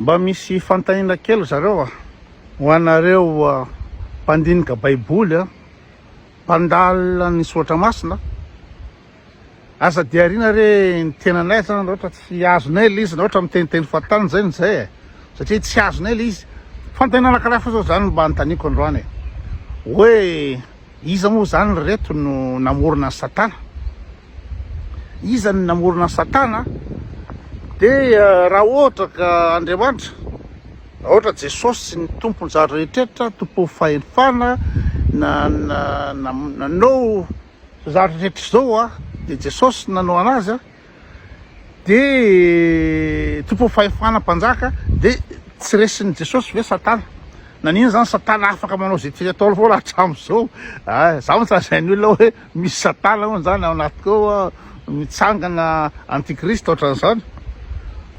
Mba misy fantahina kely zareo a! Ho anareo mpandinika baiboly a! Mpandalina ny soratra masina a! Aza diarina re ny tenanay zany raha ohatra tsy azonay le izy, raha ohatra miteniteny fahatany zay no zay e! Satria tsy azonay le izy. Fantahina anakiray fo zao zany mba anontaniako androany e! Hoe iza moa zany reto no namorona an'i satana? Iza no namorona satana? De raha ohatra ka Andriamanitra, raha ohatra Jesosy ny tompon zary rehetrertra, tompon fahefana, na nanao zary rehetrertra zao a, de Jesosy nanao anazy a, de tompon fahefana mpanjaka, de tsy resin Jesosy ve satana? Nanina zany satana afaka manao ze tiany atao foana hatram zao? Za mantsy lazain olona hoe. Misy satana hono zany ao anatiko ao a, mitsangana antikristo otran'izany,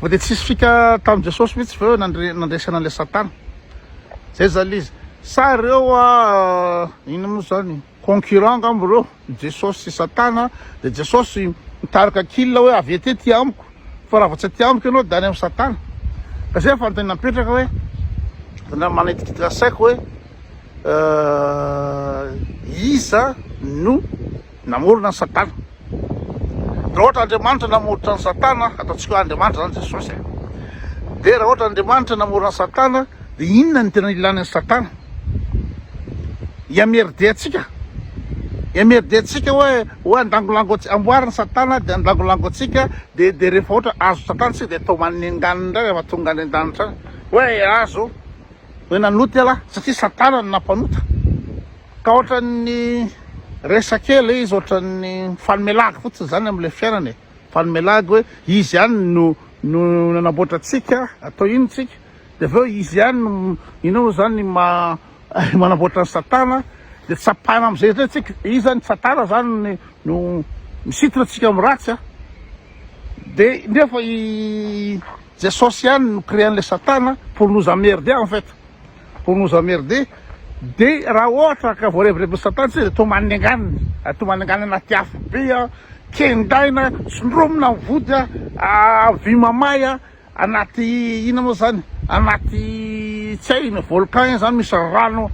fa de tsisy fika tamin'i Jesosy mitsy ve oe nandre nandresana an'le satana? zay zany le izy, sa reo a inona mo zany concurrent angamba reo Jesosy sy satana, de Jesosy mitarika kil oe avy ety aty amiko fa raha vao tsy aty amiko enao de any am satana, ka zay fanontaniana mipetraka oe, fanontaniana manitikitika saiko oe. Iza no namorona an'i Satana? Raha ohatra Andriamanitra namoritra an'i Satana, ataontsika hoe Andriamanitra izany Jesosy e, dia raha ohatra Andriamanitra namorona an'i Satana, dia inona no tena ilàna an'i Satana? Hiamerdea-tsika? Hiamerdea-tsika hoe hoe andangolango antsika, amboarin'i Satana dia andangolango antsika, dia dia rehefa ohatra azon'i Satana isika dia atao maninganina indray rehefa tonga any an-danitra any hoe azo. Hoe nanota ialahy satria satana no nampanota ka ohatran'ny resaka ela e, izy ohatran'ny mifanome lagy fotsiny zany amin'ilay fiainana e, mifanome lagy hoe izy ihany no no nanamboatra antsika atao ino tsika de avy eo izy ihany no ino moa zany ma manamboatra ny satana de tsapana am'izay izay tsika iza ny satana zany no misintona antsika amin'ny ratsy a de nefa i Jesosy ihany no créant le satana pour nous emmerder en fait pour nous emmerder de raha ohatra ka voarevirevy ny satana tsika de toa manenganiny ary toa manengana anaty afo be a kendaina tsindromina ny vody a avy mamay a anaty ina moa zany anaty tsy hay ina volcan ina zany misy rano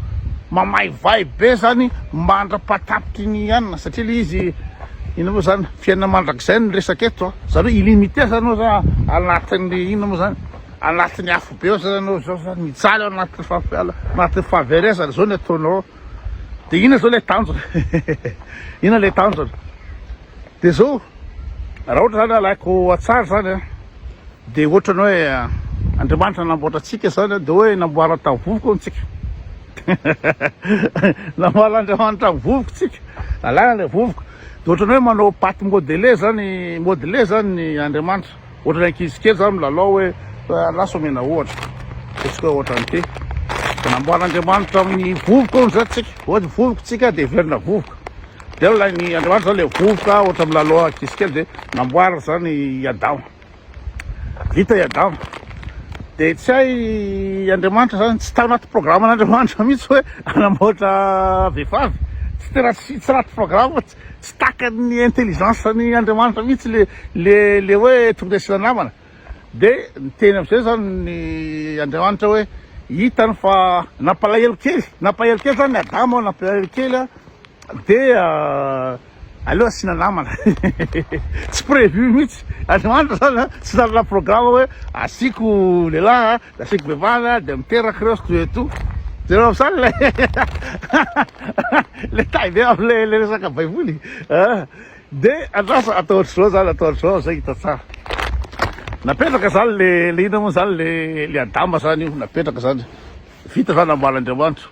mamaivay be zany mandra-pahatapitry ny anina satria le izy ina moa zany Fiainana mandrakizay no resaka eto a! Zany hoe illimité zany oza anatin'ny inona moa zany? Anatin'ny afobe ao zany anao zao zany mijaly ao anatin'ny fahafiala anatin'ny fahaverezana zao ny ataonao de inona zao le tanjona? Inona le tanjona? De zao raha ohatra zany alaiko atsara zany a de ohatra ny hoe Andriamanitra namboatra antsika zany a de hoe namboariny tamin'ny vovoka hono tsika namboarin'Andriamanitra ny vovoka tsika alana le vovoka Dia ohatran'ny hoe manao pate modele zany modele zany ny Andriamanitra. Ohatran'ny ankizy kely zany milalao hoe lasa omena ohatra. Ataontsika hoe ohatran'ny ty. Dia namboaran'Andriamanitra amin'ny vovoka hono zany tsika. Ohatra vovoka tsika dia heverina vovoka. Dia ilay ny Andriamanitra zany ilay vovoka ohatra milalao ankizy kely dia namboariny zany i Adama. Vita i Adama. Dia tsy hay Andriamanitra zany, tsy tao anaty programan'Andriamanitra mihitsy hoe hanamboatra vehivavy. Tsy tena tsy tsy anaty programme, tsy tsy takan'ny intelligence-n'i Andriamanitra mihitsy le le le hoe tokony asiana namana. Dia niteny am'zay zany ny Andriamanitra hoe hitany fa nampalahelo kely, nampahelo kely zany Adama, nampalahelo kely dia Aleo asiana namana Tsy prévu mihitsy Andro andro zany a Tsy nanana programme hoe Asiako lehilahy a Dia asiako vehivavy a Dia miteraka ireo zto et tout Hitanao zany ilay Ilay taille be amin'ilay ilay resaka baiboly a Dia andrasa atao ohatr'izao zany Atao ohatr'izao amin'izay hita tsara Napetraka zany le le inona moa zany le le Adama zany io napetraka zany Vita zany namboarin'Andriamanitra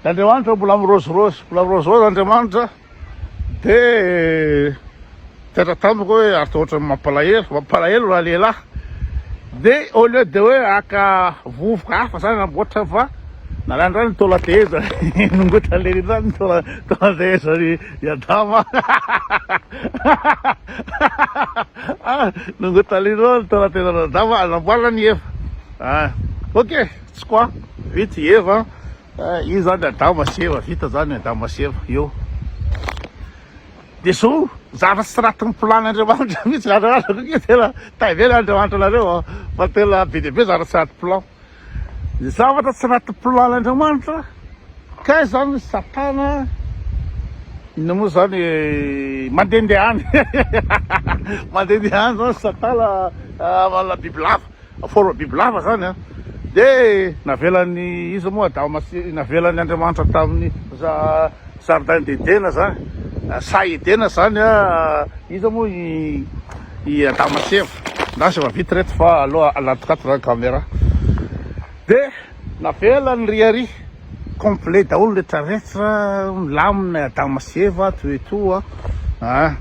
Andriamanitra mbola mirôzirôzy, mbola mirôzirôzy Andriamanitra, dia nitatra tamiko hoe ary toa ohatran'ny mampalahelo, mampalahelo raha lehilahy, dia au lieu de hoe haka vovoka hafa zany namboatra fa nalainy indray ny taola teheza, nongotany lery indray ny taola taola tehezan'i i Adama, nongotany lery indray ny taola tehezan'i Adama, namboarany i Eva, ah ok. Tsy quoi? Vita i Eva an! Io zany Adama sy Eva, vita zany Adama sy Eva eo. Dia zao zavatra tsy ratin'ny plan Andriamanitra mihitsy zany raha araka io tena tavela Andriamanitra anareo an! Fa tena be dia be zavatra tsy raty plan. Ny zavatra tsy raty plan Andriamanitra kay zany Satana inona moa zany mandehandeha any mandehandeha any zany Satana manana bibilava. Forme bibilava zany an! De navelan'i iza moa Adama masy navelan'i Andriamanitra tamin'ny jardin d'Edena zany saha Edena zany an! Iza moa i i Adama sy Eva? Ndasy efa vita reto fa aloha aladikato zany camera de navelany ry ari complet daholo retraretra milamina i Adama sy Eva ato etoa an!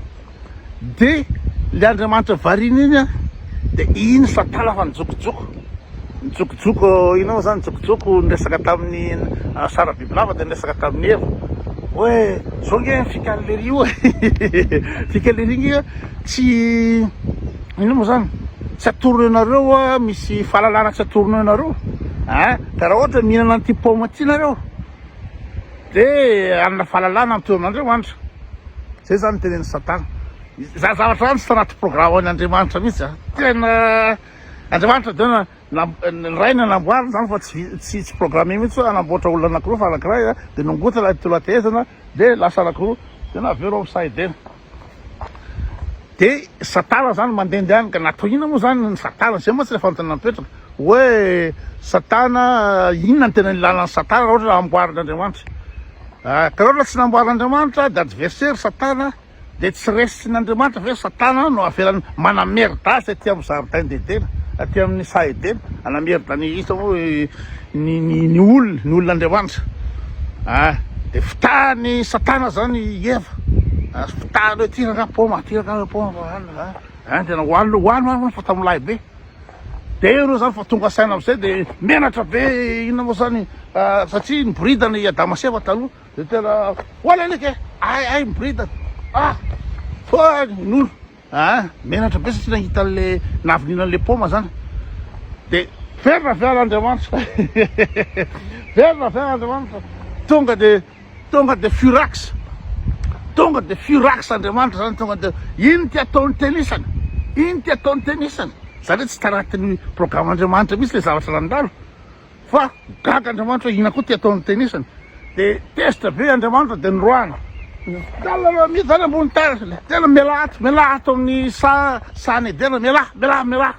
de le Andriamanitra variana iny an de iny satala fa nijokojoko nijokojoko inona moa zany nijokojoko niresaka tamin'ny Sara Bibilava de niresaka tamin'i Eva hoe zao nge ny fikan'i Lery io fikan'i Lery nge tsy inona moa zany tsy atorony anareo misy fahalalana tsy atorony anareo a ka raha ohatra mihinana an'ity paoma ity nareo Dia hanana fahalalana ny toeranareo Andry. Izay izany no tenenin'i Satana. Izany zavatra izany tsy tanaty programme-ny Andriamanitra mihitsy. Tena Andriamanitra dia na- nam- ny Ray no namboariny izany fa tsy vi- tsy tsy programme mihitsy hoe hanamboatra olona anankiroa fa anankiray dia nongotana ilay tolan-tehezana dia lasa anankiroa. Tena avy eo ianao misahy be. De satala zany mandendeha any ka natao inona moa zany ny satala, zay mantsy le fanontaniana mipetraka oe satana inona no tena ilana ny satana raha ohatra amboarin'Andriamanitra ah, ka raha ohatra tsy namboarin'Andriamanitra de adversaire ry satana de tsy resin'Andriamanitra ve ry satana no avelany manamerda azy aty amin'ny jardin d'Edena aty amin'ny saha Edena anamerda an'i Isa moa i Ny ny ny olona, ny olon'Andriamanitra a dia fotahan'i Satana izany i Eva a, fotahany hoe ity rangaha paoma, ity rangaha paoma fa hanina a, a dia hohanina hohanina hohanina fa tamin'ny lahy be, dia ireo izany vao tonga saina amin'izay dia menatra be, inona moa izany a, satria niboridana i Adama sy Eva taloha dia tena hoany alika e, hay hay miboridana, ah! Hoany ny olona. Ah menatra be satria nahita anle navonina anle paoma zany de very na very Andriamanitra very na very Andriamanitra tonga de tonga de furax tonga de furax Andriamanitra zany tonga de ino ty ataony tenisany ino ty ataony tenisany zany hoe tsy tanatin'ny programme Andriamanitra mihitsy le zavatra nandalo Fa gaga Andriamanitra hoe inona koa ty ataon'ny tenisany. Dia tezitra be Andriamanitra dia niroahana. Milalao mihidy any ambony terrasse le. Tena mialà ato, mialà ato amin'ny saha sahan'i Edena, mialà, mialà, mialà.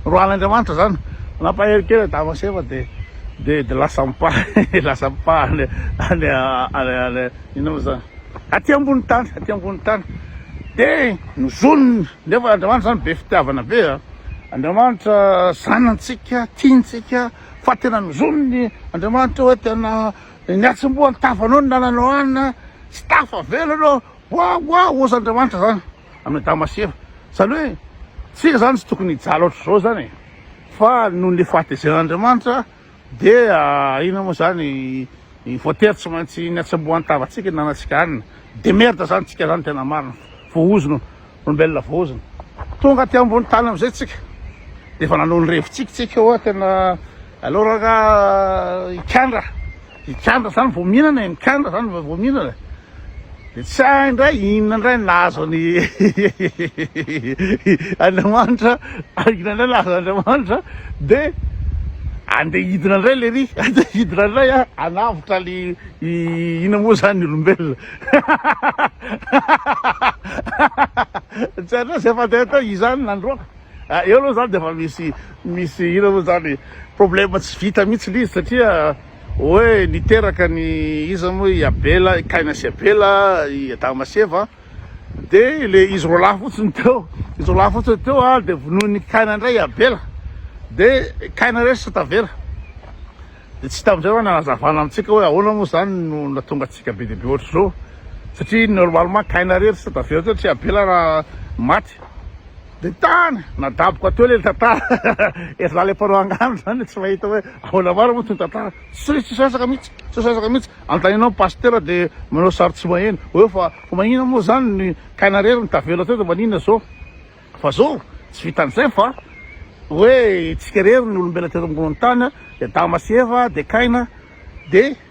Roahan'Andriamanitra zany. Nampahery kely Adama sy Eva dia dia dia lasa mipahana, lasa mipahana any any any inona moa zany? Aty ambony tany, aty ambony tany. Dia nozoniny nefa Andriamanitra zany be fitiavana be a. Andriamanitra zanantsika, tiantsika, fa tena mizonony Andriamanitra hoe tena ny atsimboa ny tafanao ny nananao anina tsy tafa vela anao wa wa ozy Andriamanitra zany amin'ny Adama sy Eva zany hoe tsika zany tsy tokony hijaly ohatr'izao zany e fa noho ny fahatezeran'Andriamanitra Dia inona moa zany ny voatery tsy maintsy ny hatsembohan'ny tavantsika ny nanantsika hanina? De merde zany tsika zany tena marina, voahozona, olombelona voahozona. Tonga aty ambony tany amizay tsika de efa nanao ny revintsika tsika oa tena aleo ranga hikandra Hikandra zany vao mihinana e, mikandra zany vao mihinana de tsy hay ndray inona ndray ny nahazo ny Andriamanitra, inona ndray nahazo Andriamanitra de andeha hidina ndray le ry, andeha hidina ndray a, hanavotra le inona moa zany ny olombelona tsy hainao zay fandeha teo izany nandroaka. Ah eo aloha zany dia efa misy misy ino aloha zany problème tsy vita mihitsy le izy satria hoe niteraka ny iza moa i Abela, i Kaina sy Abela, i Adama sy Eva de le izy roa lahy fotsiny teo, izy roa lahy fotsiny teo a de vonoin'i Kaina indray i Abela de Kaina indray sisa tavela de tsy hita amizay zany hanazavana amintsika hoe ahoana moa zany no nahatonga antsika be dia be ohatr'izao satria normalement Kaina irery sisa tavela teo tsy Abela raha maty. Dia tany nadaboka teo ilay tantara e, za ilay mpanao angano zany dia tsy mahita hoe ahoana marina moa ity tantara, tsy tsy sasaka mihitsy, tsy sasaka mihitsy, anontanianao ny pasitera dia manao sary tsy maheno, hoe fa fa maninona moa zany ny kaina rery no tavela teo dia maninona zao, fa zao tsy vitan'izay fa hoe itsika rery ny olombelona teto ambony tany dia adama sy eva dia kaina dia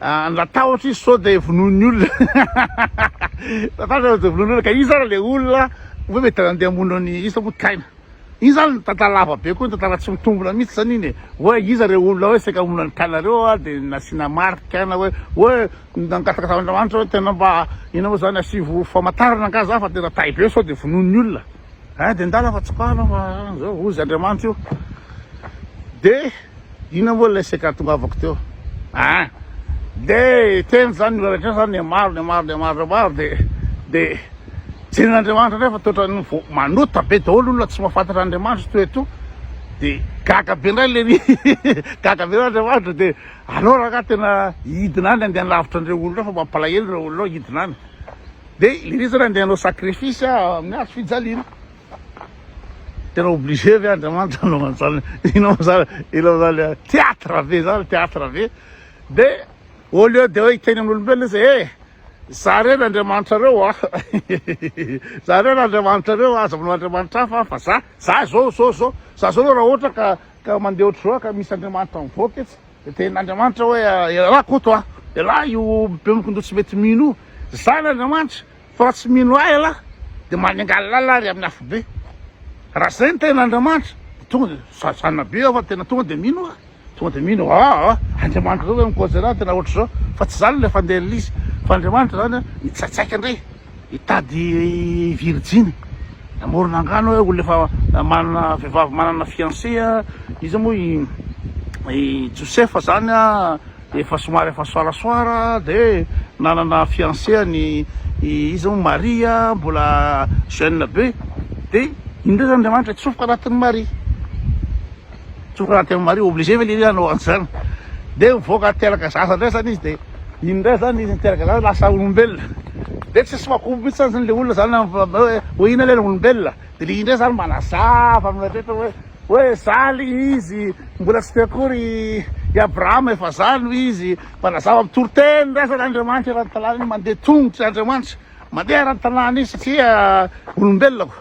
Ah, natahotra izy sao dia vonoin'ny olona natahotra izy dia vonoin'ny olona ka iza ary le olona hoe mety handeha hamono an'i iza moa taina iny zany tantara lava be koa ny tantara tsy mitombina mihitsy zany iny e. hoe iza ireo olona hoe saika hamono an'i tainareo a dia nasiana marika na hoe hoe nangataka tamin'Andriamanitra hoe tena mba ina moa zany asivo famantarana angaha za fa tena tay be sao dia vonoin'ny olona Ady an-dala fa tsokana fa zao hozy Andriamanitra io. De ina moa ilay seka tongavako teo. Ah. De teny zany olona rehetra zany ne maro ne maro ne maro ne maro de de jeren'Andriamanitra indray fa toetra ny vao manota be daholo olona tsy mahafantatra Andriamanitra toa eto. De gaga be indray le gaga be Andriamanitra de alora ka tena hidina any andeha lavitra an'ireo olona fa mampalahelo ireo olona hidina any. De ireizany andeha anao sacrifice amin'ny hazo fijaliana tena obligé ve Andriamanitra anao anjany inao zany inao zany théâtre be zany théâtre be de au lieu de hoe hiteny amin'olombelona izy eh za re Andriamanitra reo ah za re Andriamanitra reo aza manao Andriamanitra hafa fa za za zao zao zao za zao raha ohatra ka ka mandeha ohatr'izao ka misy Andriamanitra mivoaka etsy Dia tenin' Andriamanitra hoe, Elah Koto a! Elah io bemokin-doha tsy mety mino io! Zan' Andriamanitra fa raha tsy mino Ahy elah dia manengalala ary amin'ny afobe. Raha izay ny tenin' Andriamanitra dia tonga dia sady zanona be aho fa tena tonga dia mino aho. Tonga dia mino aho, aa! Andriamanitra ve mikoatry anah tena ohatr'izao? Fa tsy izany ilay fandehan'Izy fa Andriamanitra izany mitsatsaika indray. Hitady virjiny amorona angano hoe olona efa manana vehivavy manana fiancé a, iza moa i i Josefa zany a efa somary efa soarasoara de nanana fiancé an'i iza moa Maria mbola jeune be de iny ndray zany Andriamanitra hitsofoka anatin'i Maria. Tokony raha tena mariho obligé ve lehilahy hanao an'izany? Dia mivoaka teraka zaza indray izany izy dia iny indray izany izy niteraka zaza lasa olombelona. Dia tsy misy makobo mihitsy izany ilay olona izany hoe hoe inona ilay ny olombelona. Dia ilay izy indray izany manazava amin'ilay rehetra hoe hoe izaho aloha ilay izy mbola tsy teo akory i Abrahama efa izaho no izy. Manazava mitory teny indray izany Andriamanitra ara-dalàna iny, mandeha tongotra Andriamanitra, mandeha ara-dalàna izy satria olombelona.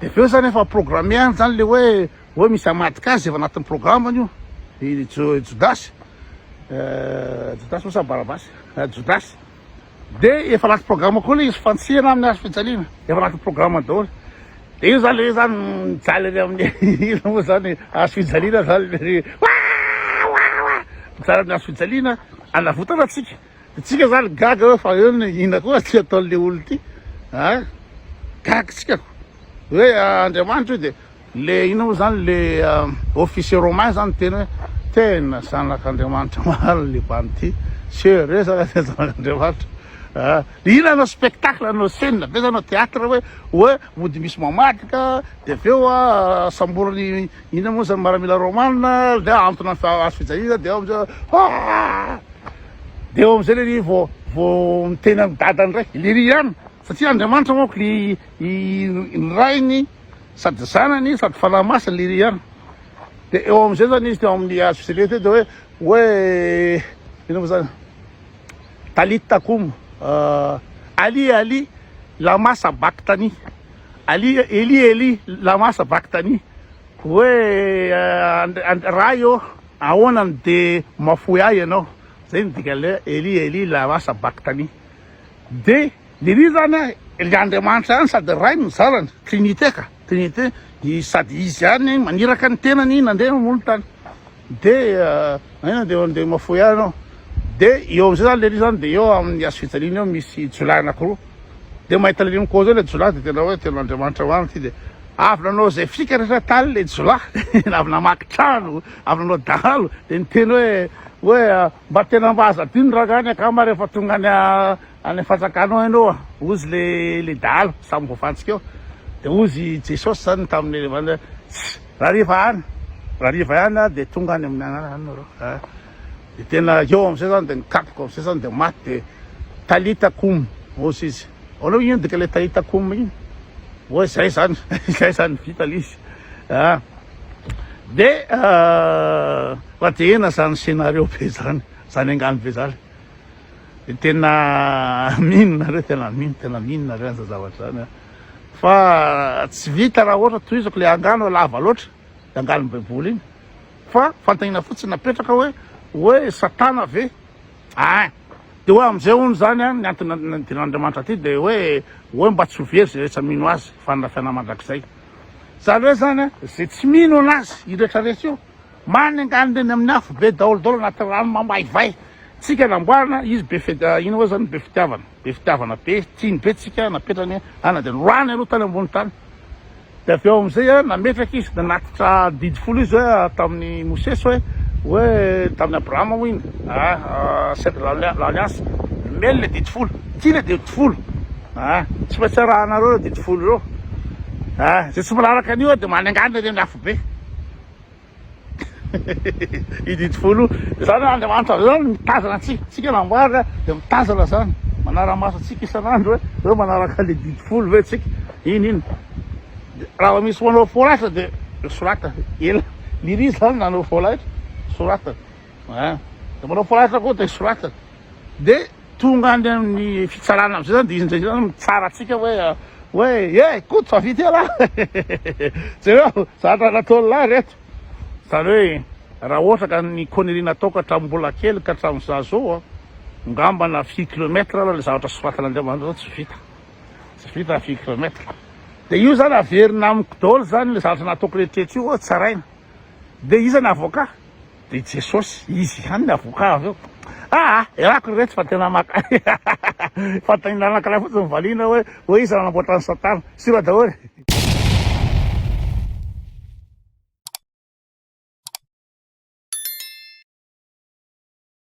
Dia avy eo izany efa programmer izany ilay hoe hoe misy hamadika azy, efa anatin'ny programme-ny io, i Jodasy, Jodasy moa sa Barabasy? Jodasy. Dia efa anaty programme koa ilay izy, fantsihana amin'ny hazo fijaliana, efa anatin'ny programme daholo. Dia io izany ilay hoe izany mijaly any amin'ny ina moa izany hazo fijaliana izany, mijaly amin'ny hazo fijaliana hanavotana antsika. Itsika zany gaga hoe fa eo ny ina koa ty ataon'le olo ty a gaga tsika ko hoe Andriamanitra io de le ina moa zany le officier romain zany teny hoe tena zanak'Andriamanitra marina le bande ty se resaka tena zanak'Andriamanitra a ina anao spectacle anao scène be zany anao théâtre hoe hoe mody misy mamadika de avy eo a samboriny ina moa zany maramila romana le antony azo fijaliana de ao amizay dia eo amin'izay lery vao vao miteny an'i dadany indray lery ihany satria Andriamanitra manko le i ny rainy sady zanany sady fanahy masina lery ihany dia eo amin'izay zany izy teo amin'ny hazo fisele teo dia hoe hoe inona moa zany talit takum ali ali lama sabaktani ali eli eli lama sabaktani hoe Andri- Andri- ray ô Ahoana no dia mahafoy ahy ianao? Izay no dikan'ilay hoe Eli Eli lama sabaktani. Dia Eli izany hoe Ilay Andriamanitra ihany sady Ray no zanany, trinite ka, trinite sady Izy ihany maniraka ny tenany nandeha mamoha ny tany. Dia aina dia dia mahafoy ahy ianao. Dia eo amin'izay izany ilay Eli izany dia eo amin'ny hazo fijaliana eo misy jiolahy anankiroa. Dia mahita ilay Eli mikôza eo ilay jiolahy dia tena hoe tena Andriamanitra marina ity dia. Avy nanao izay fikany rehetra tany ilay jiolahy, avy namaky trano, avy nanao dahalo, dia niteny hoe, hoe mba tena mba aza adino rangahy ny akama rehefa tonga any any fantsakana ao ianao a! hozy ilay ilay dahalo samy voafantsika eo, dia hozy i Jesosy izany tamin'ny ilay vavany hoe, tss! rariva ihany, rariva ihany aho dia tonga any amin'ny anarany nareo a! Dia tena eo amin'izay izany dia nikapoka amin'izay izany dia maty dia Talita koum hozy izy. Ahoana hoy iny dika ilay Talita koum iny? Hoe izay izany, izay izany vita ilay izy. Ah. Dia ah, fa dia ena izany scénario be izany, izany angano be izany. Dia tena mino nareo, tena mino, tena mino nareo an'izany zavatra izany. Fa tsy vita raha ohatra tohizako ilay angano lava loatra. Iangalin'ny baiboly iny fa fantanina fotsiny napetraka hoe hoe satana ve ein de hoe amizay hono zany an ny antony nandiran'Andriamanitra aty de hoe hoe mba tsy ho very zay rehetra mino azy fanirafiana mandrakizay zany hoe zany an ze tsy mino anazy io rehetra rehetra io marina engaly ndreny amin'ny afo be daolo daolo anaty rano mamaivay tsika namboarina izy be feda ino hoe zany be fitiavana be fitiavana be tiany be tsika napetrany hoe ana de norahany aloha tany ambony tany Dia avy eo amin'izay nametraka izy, nanatitra didy folo izy hoe tamin'i Mosesy hoe, hoe tamin'i Abrahama hoy iny, ah, cèdre de l'alliance, Nomeny ilay didy folo, ity ilay didy folo, ah, tsy maintsy arahanareo ireo didy folo ireo, ah, izay tsy manaraka an'io dia manengana ireny afobe. I Didy Folo izany hoe Andriamanitra izao no mitazana antsika, isika namboarina dia mitazana izany, manara-maso antsika isan'andro hoe hoe manaraka an'ilay Didy Folo ve isika, iny iny dia raha vao misy manao fo laitra dia soratany, ela lery izy izany nanao fo laitra, soratany, ah, dia manao fo laitra koa dia soratany, dia. Tonga any amin'ny fitsarana amin'izay zany dia izy indraindray zany mitsara antsika hoe hoe e Koto fa vita ialahy jereo zany raha nataon'lah reto zany hoe raha ohatra ka ny connerie nataoko hatramin'ny mbola kely ka hatramin'izaho zao ngamba na fille kilomètre ary ilay zavatra soratan'Andriamanitra zao tsy vita tsy vita fille kilomètre dia io zany averina amiko daholo zany ilay zavatra nataoko rehetra rehetra io tsaraina dia iza ny avocat Dia Jesosy, Izy ihany ny avoka avy eo. Aa! Ialako ry retsy fa tena maka fanontaniana anankiray fotsiny ny valiana hoe, hoe iza no nanamboatra an'i Satana? Sura daholo e!